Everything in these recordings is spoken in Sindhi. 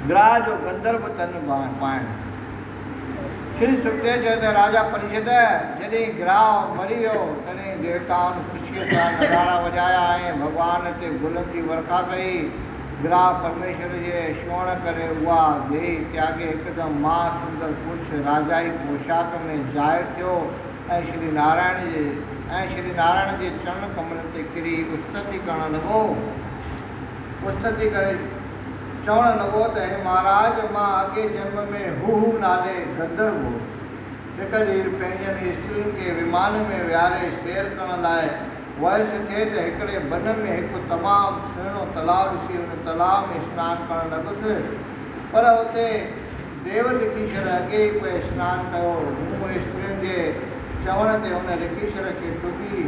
گراء جو گندرو تن پائڻ. شري سڪتيء چيو ته راجا پريشد، جڏهن گراء مري ويو، تڏهن ديوتائن خوشيء سان نغارا وڄايا ۽ ڀڳوان تي گلن جي ورکا ڪئي. گراء پرميشور جي ڇوهڻ ڪري اها ديهي تياڳي هڪدم مها سندر پرش، راجائي پوشاڪ، ۾ ظاهر ٿيو ۽ شري نارائڻ جي ۽ شري نارائڻ جي چرڻ ڪملن تي ڪري استتي ڪرڻ لڳو. مستدي ڪري چوڻ لڳو ته اي مھاراج! مان اڳئين جنم ۾ ھوھو نالي گندرو ھوس. ھڪ ڏينھن پنھنجن استرين کي ومان ۾ ويھاري سير ڪرڻ لاء ويس ٿي ته ھڪڙي بن ۾ ھڪ تمام سهڻو تلاء ڏسي ان تلاء ۾ سنان ڪرڻ لڳس پر اتي ديو لکيشر اڳي ئي پئي سنان ڪيو ھو. مون استرين جي چوڻ تي ان لکيشر کي ٽٻي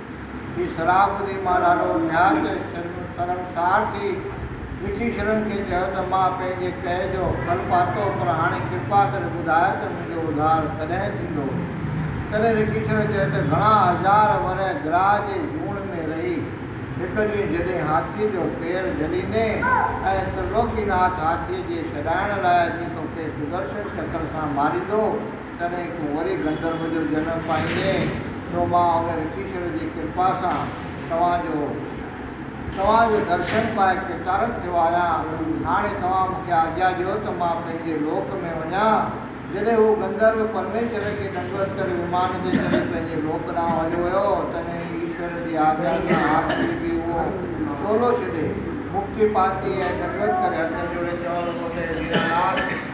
هي شراب ٻڌي مان ڏاڍو نهايت شرمسار ٿي مٺي شرن کي چيو ته مان پنهنجي ڪهه جو ڦل پاتو پر هاڻي ڪرپا ڪري ٻڌاء ته منهنجو اڌار ڪڏهن ٿيندو؟ تڏهن رکي شرن چيو ته گهڻا هزار ورهه گراهه جي جوڻ ۾ رهي هڪ ڏينهن جڏهن هاٿيء جو پير جهليندين ۽ ترلوڪي ناٿ هاٿيء جي ڇڏائڻ لاء اچي توکي سدرشن چڪر سان ماريندو، تڏهن تون وري گندرو جو جنم پائيندين، سو مان ان رشيشور جي ڪرپا سان توهان جو توهان جو درشن پائي ڪرتارٿ ٿيو آهيان. هاڻي توهان مون کي آجيا ڏيو ته مان پنهنجي لوڪ ۾ وڃان. جڏهن هو گندرو پرميشور کي ڏنڊوت ڪري ومان تي چڙهي پنهنجي لوڪ ڏانهن هليو ويو، تڏهن ايشور جي آجيا سان هاڪلي به اهو چولو ڇڏي، مڪتي پاتي ۽ ڏنڊوت ڪري هٿ جوڙي چوڻ لڳو ته هي ديناناٿ!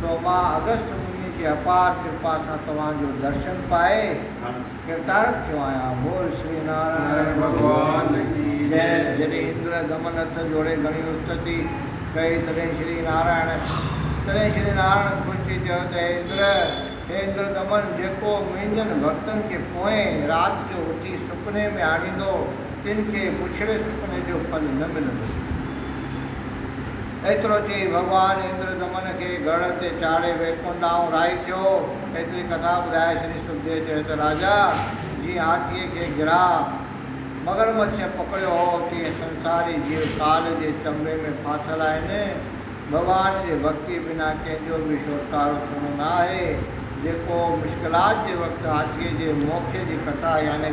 سو مان اگست منهنجي کي اپار ڪرپا سان توهان جو درشن پائي ڪرتارٿ ٿيو آهيان بول شري نارائڻ ڀڳوان جي جئي جڏهن اندر دمن هٿ جوڙي گهڻي استتي ڪئي تڏهن شري نارائڻ تڏهن شري نارائڻ خوش ٿي چيو ته هي اندر هي اندر دمن جيڪو منهنجن ڀڳتن کي پوئين رات جو اٿي سپني ۾ آڻيندو تن کي پڇڙي سپني جو ڦل نه ملندو. ايترو چئي ڀڳوان اندر دمن کي گهڙ تي چاڙهي ويڪنٺ ڏانهن رهائي ٿيو. ايتري ڪٿا ٻڌائي شري سکديو چيو ته راجا جيئن هاٿيء کي گرهه مگرمڇ پڪڙيو هو تيئن سنساري جيو ڪال جي چنبي ۾ ڦاٿل آهن. ڀڳوان جي ڀڳتيء بنا ڪنهن جو به ڇوٽڪارو ٿيڻو نه آهي. جيڪو مشڪلات جي وقت هاٿيء جي موکيء جي ڪٿا يعني.